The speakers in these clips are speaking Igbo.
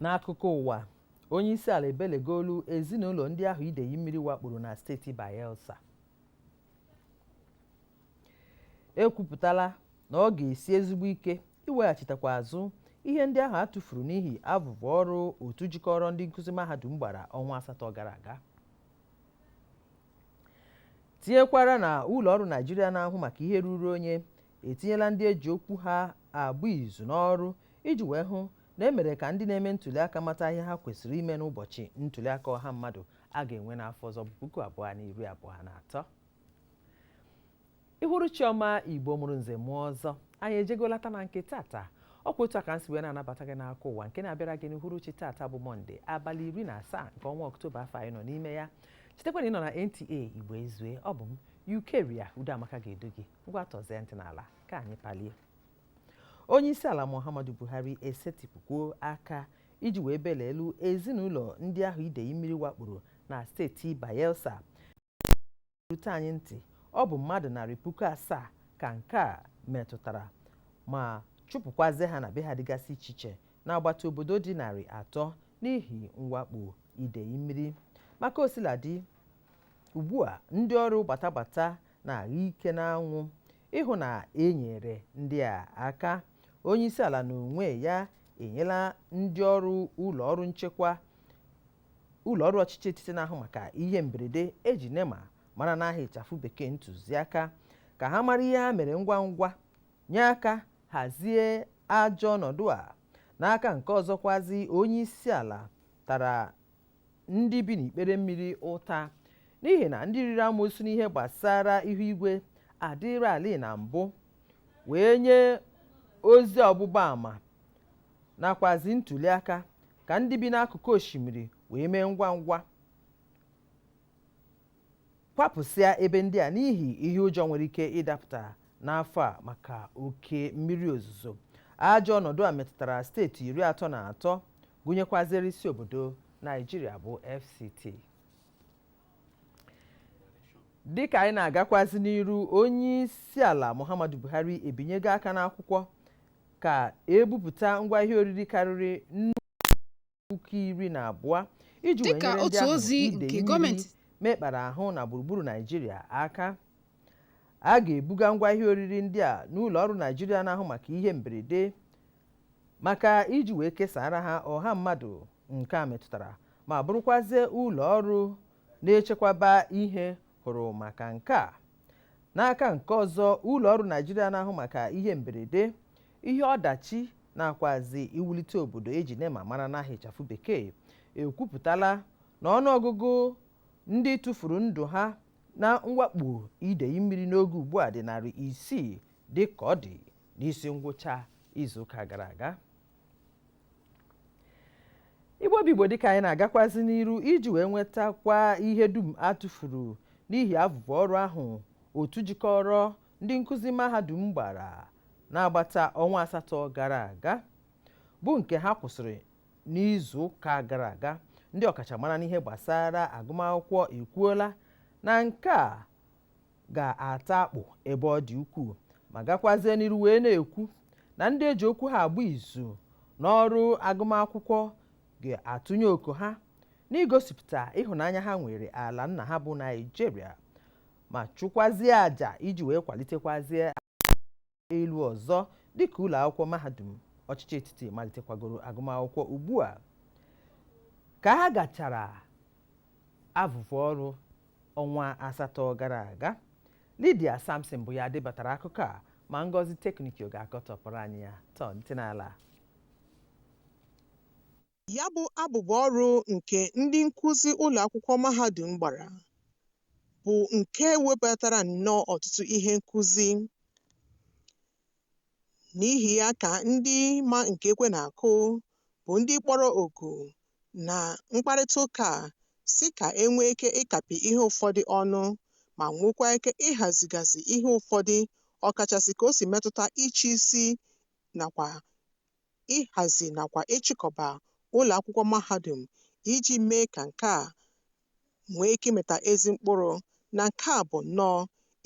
N'akụkọ ụwa, onye isi ala ebelegolu ezinụlọ ndị ahụ idei mmiri wakporo na steeti Bayelsa. Ekwupụtala na ọ ga-esi ezigbo ike iweghachitakwa azụ ihe ndị ahụ a tụfuru n'ihi abụbụ ọrụ otu jikọrọ ndị nkụzi mahadum gbara ọnwa asatọ gara aga. Tinyekwara na ụlọ ọrụ Naijiria na-ahụ maka ihe ruru onye etinyela ndị eji okwu ha agba izu n'ọrụ iji wee hụ na emere ka ndị na-eme ntuliaka mata ihe ha kwesịrị ime n'ụbọchị ntuliaka ọha mmadụ a ga-enwe n'afọ ọzọ bụ puku abụọ na iri abụọ na atọ uhuruchi ọma igbo mụrụ nze mụọ ọzọ anyị ejego lata na nke tata ọ kwa otu a ka m si wee na-anabata gị n'akụkọ ụwa nke na-abịara gị n'uhuruchi tata bụ mọnde abalị iri na asaa nke ọnwa ọktoba afọ anyị nọ n'ime ya chetakwa na ị nọ na nta igbo ezue ọ bụ m eucharia udeamaka ga-edu gị ngwa tọzie ntị n'ala ka anyị palie onye isi ala muhammadu buhari esetipụkwuo aka iji wee belelu ezinụlọ ndị ahụ idei mmiri wakporo na steeti bayelsa rute anyị ntị ọ bụ mmadụ narị puku asaa ka nke a metụtara ma chụpụkwazie ha na be ha dịgasị iche iche n'agbata obodo dị narị atọ n'ihi mwakpo idei mmiri ma ka o sila dị ugbu a ndị ọrụ gbatagbata na-agha ike n'anwụ ịhụ na e nyere ndị a aka onye isi ala n'onwe ya enyela ndị ọrụ ụlọ ọrụ nchekwa ụlọ ọrụ ọchịchị etiti na-ahụ maka ihe mberede eji nema mara n'aha ịchafụ bekee ntụziaka ka ha mara ihe ha mere ngwa ngwa nye aka hazie ajọ ọnọdụ a n'aka nke ọzọkwazi onye isi ala tara ndị bi n'ikpere mmiri ụta n'ihi na ndị riri amosu n'ihe gbasara ihu igwe adịrị ali na mbụ wee nye ozi ọgbụgba ama nakwazi ntụziaka ka ndị bi n'akụkụ osimiri wee mee ngwa ngwa kwapụsịa ebe ndị a n'ihi ihe ụjọ nwere ike ịdapụta n'afọ a maka oke mmiri ozuzo ajọ ọnọdụ a metụtara steeti iri atọ na atọ gụnyekwaziri isi obodo naijiria bụ fct dịka anyị na-agakwazi n'iru onye isi ala muhammadu buhari ebinyego aka n'akwụkwọ ka ebupụta ngwa ihe oriri karịrị nnukwu puku iri na abụọ iji wee nyere ndị idei mmiri mekpara ahụ na gburugburu naijiria aka a ga-ebuga ngwa ihe oriri ndị a n'ụlọ ọrụ naijiria na-ahụ maka ihe mberede maka iji wee kesara ha ọha mmadụ nke a metụtara ma bụrụkwazie ụlọ ọrụ na-echekwaba ihe hụrụ maka nke a n'aka nke ọzọ ụlọ ọrụ naijiria na-ahụ maka ihe mberede ihe ọdachi nakwazi iwulite obodo eji nema mara n'aha ịchafụ bekee ekwupụtala na ọnụọgụgụ ndị tụfuru ndụ ha na mwakpo idei mmiri n'oge ugbu a dị narị isii dị ka ọ dị n'isi ngwụcha izuụka gara aga igbo bụ igbo dịka anyị na-agakwazi n'iru iji wee nwetakwa ihe dum a tụfuru n'ihi abụbụ ọrụ ahụ otu jikọrọ ndị nkụzi mahadum gbara n'agbata ọnwa asatọ gara aga bụ nke ha kwụsịrị n'izu ụka gara aga ndị ọkachamara n'ihe gbasara agụmakwụkwọ ekwuola na nke a ga-ata akpụ ebe ọ dị ukwuu ma gakwazie n'iru wee na-ekwu na ndị eji okwu ha agba izu n'ọrụ agụmakwụkwọ ga-atụnye oke ha n'igosipụta ịhụnanya ha nwere ala nna ha bụ naijiria ma chụkwazie àjà iji wee kwalitekwazie elu ọzọ dịka ụlọ akwụkwọ mahadum ọchịchị etiti malitekwagoro agụmakwụkwọ ugbu a ka ha gachara avụvụ ọrụ ọnwa asatọ gara aga Lydia Samson bụ ya debatara akụkọ a ma Ngozi Teknikio ga-akọtọpụrụ anyị ya tọọ ntị n'ala Ya bụ abụbụ ọrụ nke ndị nkụzi ụlọakwụkwọ mahadum gbara bụ nke webatara nnọọ ọtụtụ ihe nkụzi. N'ihi ya ka ndị ma nke ekwe na-akụ bụ ndị kpọrọ oku na mkparịtaụka a sị ka e nwee ike ịkapị ihe ụfọdụ ọnụ ma nwekwaa ike ịhazigasị ihe ụfọdụ ọkachasị ka o si metụta ịchị isi nakwa ịhazi nakwa ịchịkọba ụlọ akwụkwọ mahadum iji mee ka nke a nwee ike ịmịta ezi mkpụrụ na nke a bụ nnọọ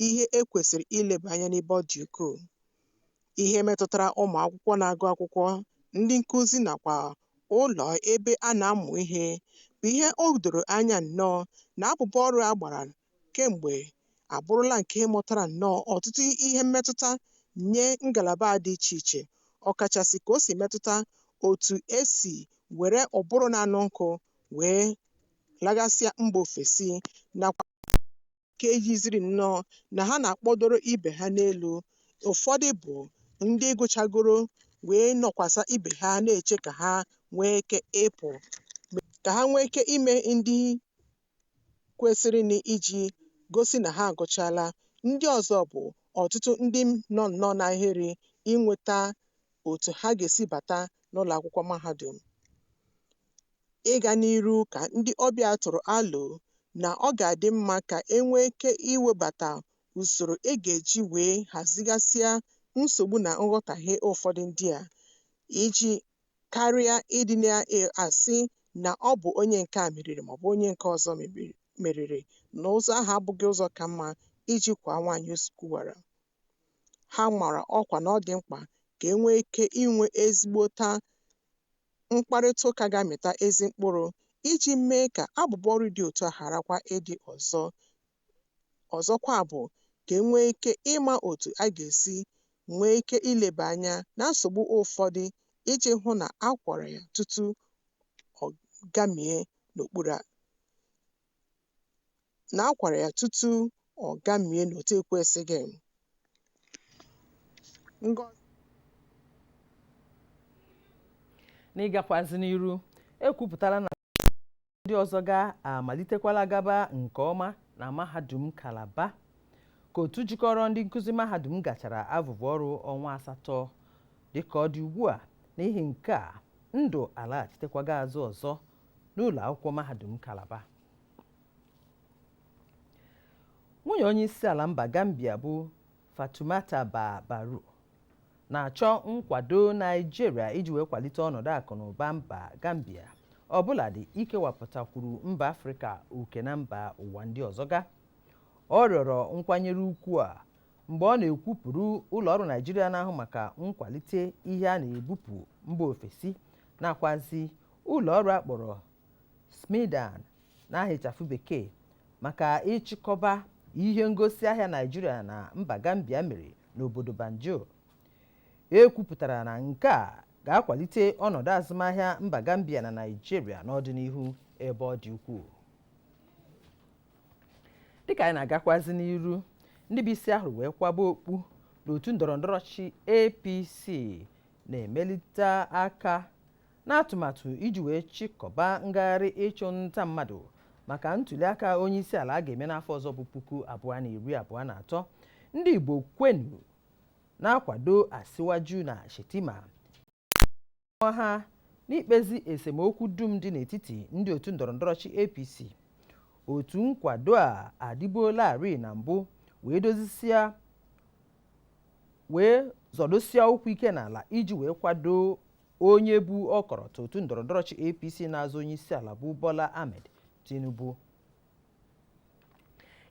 ihe e kwesịrị ileba anya n'ebe ọ dị ukwuu. Ihe metụtara ụmụ akwụkwọ na-agụ akwụkwọ, ndị nkụzi nakwa ụlọ ebe a na-amụ ihe bụ ihe o doro anya nnọọ na abụbọ ọrụ a gbara kemgbe abụrụla nke mụtara nnọọ ọtụtụ ihe mmetụta nye ngalaba a dị iche iche, ọkachasị ka o si metụta otu e si were ụbụrụ na-anụ nkọ wee lagasịa mba ofesi nakwa nke yiziri nnọọ na ha na-akpọdoro ibe ha n'elu. Ụfọdụ bụ ndị gụchagoro wee nọkwasa ibe ha na-eche ka ha nwee ike ịpụ, ka ha nwee ike ime ndị kwesịrịnụ iji gosi na ha agụchaala. Ndị ọzọ bụ ọtụtụ ndị nọ nnọọ n'ahịrị inweta otu ha ga-esi bata n'ụlọ akwụkwọ mahadum. Ịga n'iru ka ndị ọbịa tụrụ alo na ọ ga-adị mma ka e nwee ike iwebata usoro e ga-eji wee hazigasịa nsogbu na nghọtahie ụfọdụ ndị a iji karịa ịdị na-asị na ọ bụ onye nke a meriri maọbụ onye nke ọzọ meriri na ụzọ ahụ abụghị ụzọ ka mma iji kwaa nwaanyị ozu kụwara. Ha mara ọkwa na ọ dị mkpa ka e nwee ike inwe ezigbota mkparịta ụka ga-amịta ezi mkpụrụ iji mee ka abụbọ ọrụ dị otu a gharakwa ịdị ọzọ. Ọzọkwa bụ ka e nwee ike ịma otu a ga-esi nwee ike ileba anya na nsogbu ụfọdụ iji hụ na a gwọrọ ya tutu ọ gamie n'otu ekwesịghị. Ngọ N'ịgakwazi n'iru, e kwupụtala na ndị ọzọ ga amalitekwala gaba nke ọma na mahadum Kalaba ka otu jikọrọ ndị nkụzi mahadum gachara abụbụ ọrụ ọnwa asatọ dịka ọ dị ugbu a n'ihi nke a ndụ alaghachitekwago azụ ọzọ n'ụlọ akwụkwọ mahadum Kalaba nwunye onye isi ala mba Gambia bụ Fatoumata Bah Barrow na-achọ nkwado Naịjirịa iji wee kwalite ọnọdụ akụ na ụba mba Gambia ọbụladị ikewapụtakwuru mba Afrịka oke na mba ụwa ndị ọzọ ga ọ rịọrọ nkwanyere ukwu a mgbe ọ na-ekwupụrụ ụlọọrụ Naịjirịa na-ahụ maka nkwalite ihe a na-ebupụ mba ofesi nakwazi ụlọọrụ a kpọrọ SMEDAN n'aha ịchafụ bekee maka ịchịkọba ihe ngosi ahịa naijiria na mba gambia mere n'obodo banjul e kwupụtara na nke a ga-akwalite ọnọdụ azụmahịa mba gambia na naijiria n'ọdịnihu ebe ọ dị ukwuu dịka anyị na-agakwazi n'iru ndị bụ isi a hụrụ wee kwaba okpu n'otu ndọrọndọrọ ọchịchị apc na-emelite aka n'atụmatụ iji wee chịkọba ngagharị ịchụ nta mmadụ maka ntuliaka onye isi ala a ga-eme n'afọ ọzọ bụ puku abụọ na iri abụọ na atọ ndị Igbo kwenu na-akwado Asiwaju na Shettima nwa ha n'ikpezi esemokwu dum dị n'etiti ndị otu ndọrọndọrọ ọchịchị APC otu nkwado a adịbuolarị na mbụ wee zọdosia ụkwụ ike n'ala iji wee kwado onye bu ọkọrọtọ otu ndọrọndọrọ ọchịchị apc na-azọ onye isi ala bụ bola ahmed tinubu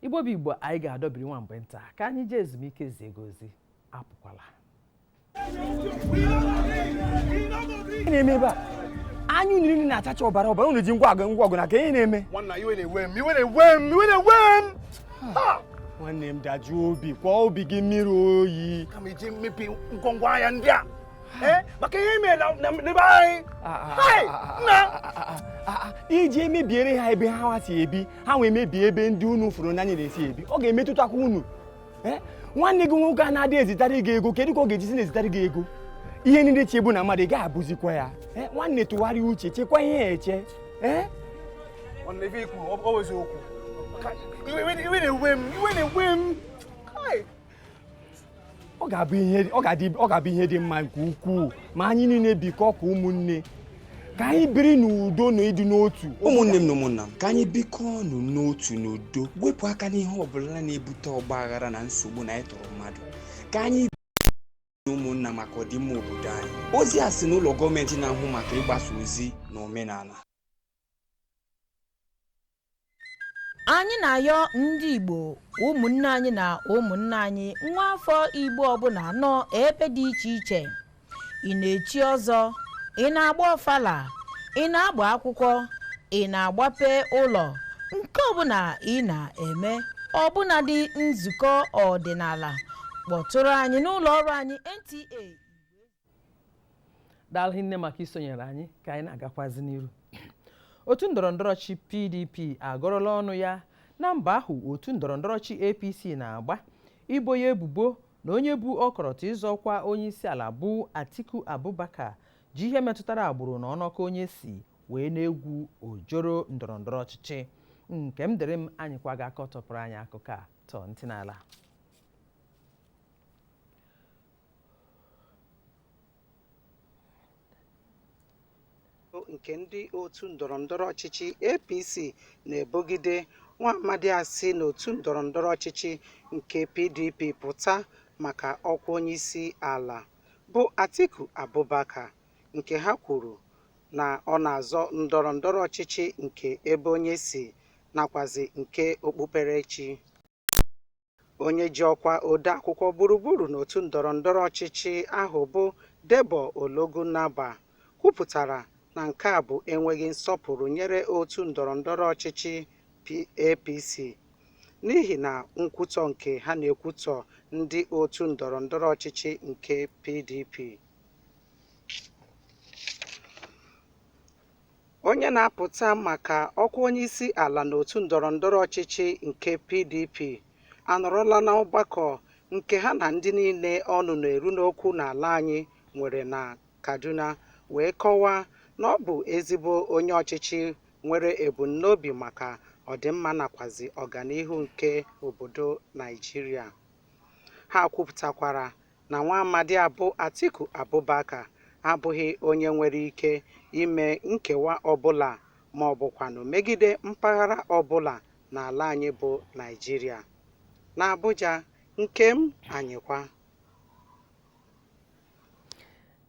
igbo bụ igbo anyị ga-adọbiri nwa mgbe nta ka anyị jee ezumike zie gị ozi apụkwala Ihe na-eme ebe a anya unu niile na-achacha ọbara ọbara unu ji ngwa agha ngwa ọgụ n'aka ihe na-eme nwanna iwe na-ewe m iwe na-ewe m iwe na-ewe m Ha! nwanne m dajụọ obi kwọọ obi gị mmiri oyi kama iji mebie ngwongwo ahịa ndị a Eh, maka ihe mere na n'ebe anyị ah, ah, ah, iji emebiere ha ebe ha si ebi ha wee mebie ebe ndị unu fụrụ n'anya na-esi ebi ọ ga-emetụtakwa unu eh, nwanne gị nwoke a na-adị ezitara gị ego kedu ka ọ ga-ejizi na-ezitara gị ego ihe ndị e chebu na mmadụ ị ga-abụzikwa ya eh, nwanne tụgharịa uche chekwa ihe eche iwe na-ewe m ọ ga-abụ ihe ọ ga-adị ọ ga-abụ ihe dị mma nke ukwuu ma anyị niile bikọọ ka ụmụnne ka anyị biri n'udo na ịdị n'otu ụmụnne m na ụmụnna m ka anyị bikọọ ọnụ n'otu n'udo wepụ aka n'ihe ọ bụla na-ebute ọgba aghara na nsogbu na ịtọrọ mmadụ ka anyị na ụmụnna maka ọdịmma obodo anyị ozi a si n'ụlọ gọọmenti na-ahụ maka ịgbasa ozi na omenala anyị na-ayọ ndị igbo ụmụnne anyị na ụmụnna anyị nwa afọ igbo ọbụla nọ ebe dị iche iche ị na-echi ọzọ ị na-agba ọfala ị na-agba akwụkwọ ị na-agbape ụlọ nke ọbụla ị na-eme ọbụladị nzukọ ọdịnala kpọtụrụ anyị n'ụlọ ọrụ anyị nta daalụ hinne maka isonyere anyị ka anyị na-agakwazi n'iru otu ndọrọndọrọ ọchịchị pdp agọrọla ọnụ ya na mbọ ahụ otu ndọrọndọrọ ọchịchị apc na-agba ibo ya ebubo na onye bu ọkọrọtọ ịzọ ọkwa onye isi ala bụ atiku abubakar ji ihe metụtara agbụrụ na ọnọkọ onye si wee na-egwu ojoro ndọrọndọrọ ọchịchị nkemdịrịm anyịkwa ga-akọtọpụrụ anyị akụkọ a tọọ ntị n'ala nke ndị otu ndọrọndọrọ ọchịchị APC na-ebogide nwa amadi a si n'otu ndọrọndọrọ ọchịchị nke PDP pụta maka ọkwa onyeisi ala bụ Atiku Abubakar nke ha kwuru na ọ na-azọ ndọrọndọrọ ọchịchị nke ebe onye si nakwazi nke okpukperechi. onye ji ọkwa odeakwụkwọ gburugburu n'otu ndọrọ ndọrọ ọchịchị ahụ bụ Debo Ologunagba kwupụtara na nke a bụ enweghị nsọpụrụ nyere otu ndọrọ ndọrọ ọchịchị APC n'ihi na nkwutọ nke ha na-ekwutọ ndị otu ndọrọ ndọrọ ọchịchị nke PDP Onye na-apụta maka ọkwa onyeisi ala n'otu ndọrọ ndọrọ ọchịchị nke PDP anọrọla na ọgbakọ nke ha na ndị niile ọnụ na-eru n'okwu n'ala anyị nwere na Kaduna wee kọwaa na ọ bụ ezigbo onye ọchịchị nwere ebumnobi maka ọdịmma nakwazi ọganihu nke obodo Naịjirịa. Ha kwupụtakwara na nwa amadi a bụ Atiku Abubakar abụghị onye nwere ike ime nkewa ọbụla ma ọ bụkwanụ megide mpaghara ọbụla n'ala anyị bụ Naịjirịa. N'Abuja, Nkem Anyịkwa.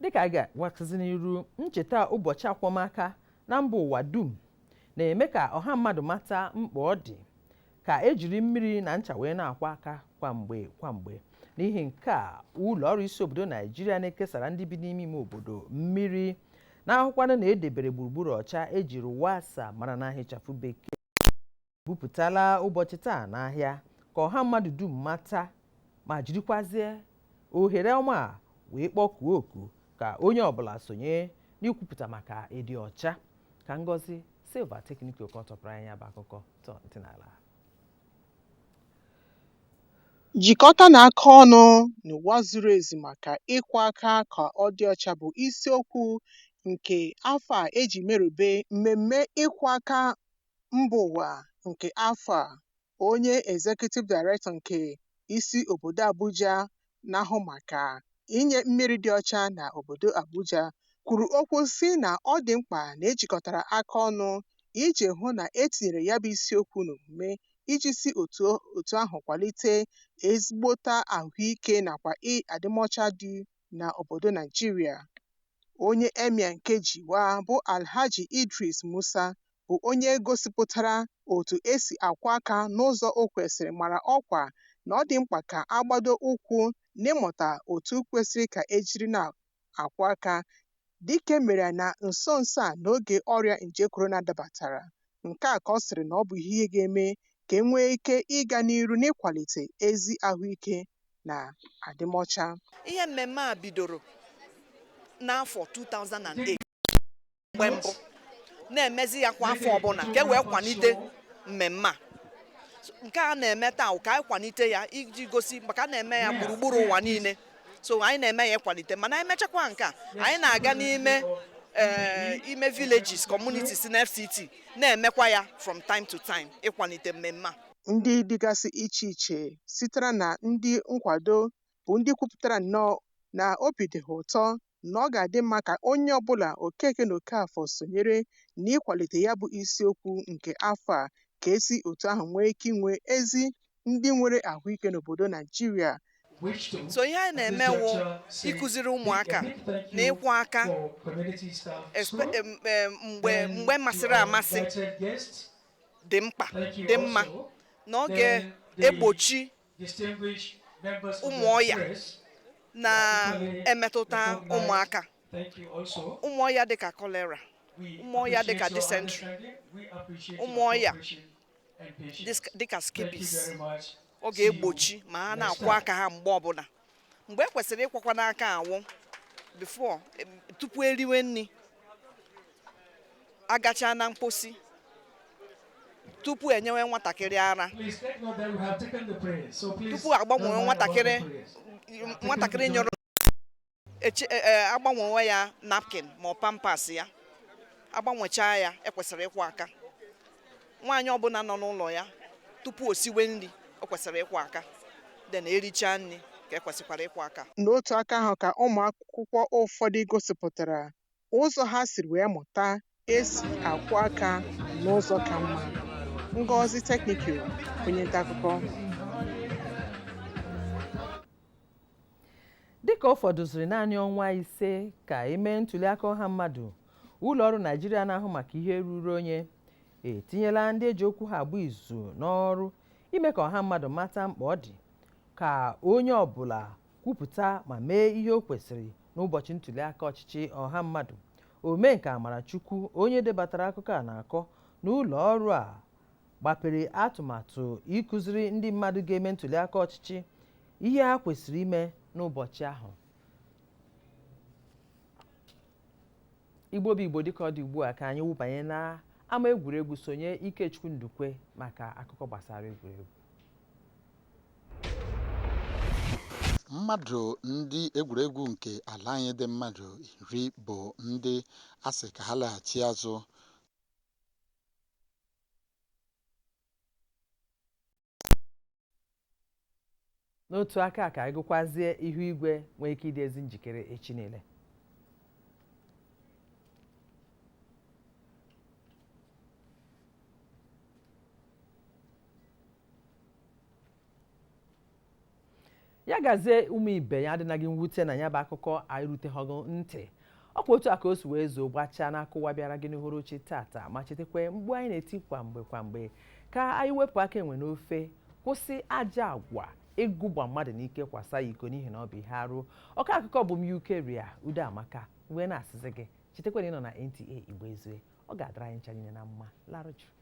dịka a ga-agbazi n'iru ncheta ụbọchị akwọmaka na mba ụwa dum na-eme ka ọha mmadụ mata mkpa ọ dị ka ejiri mmiri na ncha wee na-akwọ aka kwa mgbe kwa mgbe n'ihi nke a ụlọ ọrụ isi obodo naijiria na-ekesara ndị bi n'ime ime obodo mmiri na-ahụkwanụ na edebere gburugburu ọcha eji RUWASSA mara n'aha ịchafụ bekee bupụtala ụbọchị taa n'ahịa ka ọha mmadụ dum mata ma jirikwazie ohere ọma a wee kpọkuo oku ka onye ọbụla sonye n'ikwupụta maka ịdị ọcha ka ngozi silva tekniko kọtụpụrụ anyị ya bụ akụkọ Jikọtanụ aka ọnụ n'ụwa zuru ezu maka ịkwọ aka ka ọ dị ọcha bụ isiokwu nke afọ a eji merube mmemme ịkwọ aka mba ụwa nke afọ a. Onye Executive Director nke isi obodo Abuja na-ahụ maka inye mmiri dị ọcha na obodo Abuja kwuru okwu si na ọ dị mkpa na ejikọtara aka ọnụ iji hụ na e tinyere ya bụ isiokwu n'omume iji si otu ahụ kwalite ezigbote ahụike nakwa adịmọcha dị na obodo Naijiria. Onye Emir nke Jiwa bụ Alhaji Idris Musa bụ onye gosipụtara otu e si akwọ aka n'ụzọ o kwesịrị mara ọkwa na ọ dị mkpa ka a gbado ụkwụ n'ịmụta otu kwesịrị ka e jiri na-akwọ aka dịka e mere na nso nso a n'oge ọrịa nje korona dabatara. Nke a ka ọ sịrị na ọ bụ ihe ga-eme ka e nwee ike ịga n'iru n'ịkwalite ezi ahụike na adịmọcha. Ihe mmemme a bidoro n'afọ 2008. mgbe mbụ na-emezi ya kwa afọ ọbụla ka e wee kwalite mmemme a nke a na-eme taa ka anyị kwalite ya iji gosi maka a na-eme ya gburugburu ụwa niile so anyị na-eme ya ịkwalite mana anyị mechakwa nke a anyị na-aga n'ime Eh, ime villages communities na FCT na-emekwa ya from time to time ịkwalite mmemme a ndị dịgasị iche iche sitere na ndị nkwado bụ ndị kwupụtara nnọọ na obi dị ha ụtọ na ọ ga-adị mma ka onye ọbụla Okeke na Okafọ sonyere n'ịkwalite ya bụ isiokwu nke afọ a ka e si otu ahụ nwee ike inwe ezi ndị nwere ahụike n'obodo Naijiria. So ihe anyị na-eme wụ ịkụziri ụmụaka na ịkwọ aka mgbe mgbe masịrị amasị dị mkpa dị mma na ọ ga-egbochi ụmụ ọya na-emetụta ụmụaka ụmụ ọya dịka cholera ụmụ ọya dịka dysentery ụmụ ọya dịka scabies ọ ga-egbochi ma ha na-akwọ aka ha mgbe ọbụla mgbe e kwesịrị ịkwọkwanụ aka wụ before tupu eriwe nri agachaa na mposi tupu enyewe nwatakịrị ara tupu agbanwewe nwatakịrị nwatakịrị nyụrụ e, e, agbanwewe ya napkin ma ọ Pampers ya agbanwechaa ya e kwesịrị ịkwọ aka nwaanyị ọbụla nọ n'ụlọ ya tupu o siwe nri o kwesịrị ịkwọ aka then erichaa nri ka e kwesịkwara ịkwọ aka N'otu aka ahụ ka ụmụ akwụkwọ ụfọdụ gosipụtara ụzọ ha siri wee mụta esi akwọ aka n'ụzọ ka mma. Ngozi Technical, onye nta akụkọ. dịka ọ fọdụziri naanị ọnwa ise ka e mee ntuliaka ọha mmadụ ụlọ ọrụ naijiria na-ahụ maka ihe ruru onye etinyela ndị eji okwu ha agba izu n'ọrụ ime ka ọha mmadụ mata mkpa ọ dị ka onye ọbụla kwupụta ma mee ihe o kwesịrị n'ụbọchị ntuli aka ọchịchị ọha mmadụ Omenka Amarachukwu onye debatara akụkọ a na-akọ na ụlọ ọrụ a gbapere atụmatụ ịkụziri ndị mmadụ ga-eme ntuli aka ọchịchị ihe ha kwesịrị ime n'ụbọchị ahụ Igbo bụ Igbo dịka ọ dị ugbu a ka anyị wụbanye n'ama egwuregwu sonye Ikechukwu Ndukwe maka akụkọ gbasara egwuregwu. mmadụ ndị egwuregwu nke ala anyị dị mmadụ iri bụ ndị a sị ka ha laghachi azụ n'otu aka ka anyị gụkwazie ihu igwe nwee ike ịdị ezi njikere echi niile ya gazie ụmụ ibe ya adịna gị mwute na ya bụ akụkọ anyị erutego gị ntị ọkwa otu a ka o si wee zoo gbachaa n'akụkọ ụwa bịara gị n'uhuruchi tata ma chetakwa mkpu anyị na-eti kwa mgbe kwa mgbe ka anyị wepụ aka enwe n'ofe kwụsị ajọ agwa ịgụgba mmadụ n'ike kwasa ya iko n'ihi na ọ bụ ihe arụ ọka akụkọ bụ m Eucharia Udoamaka wee na-asịzi gị chetakwa na ị nọ na NTA Igbo Ezue ọ ga-adara anyị ncha niile na mma larụ jụụ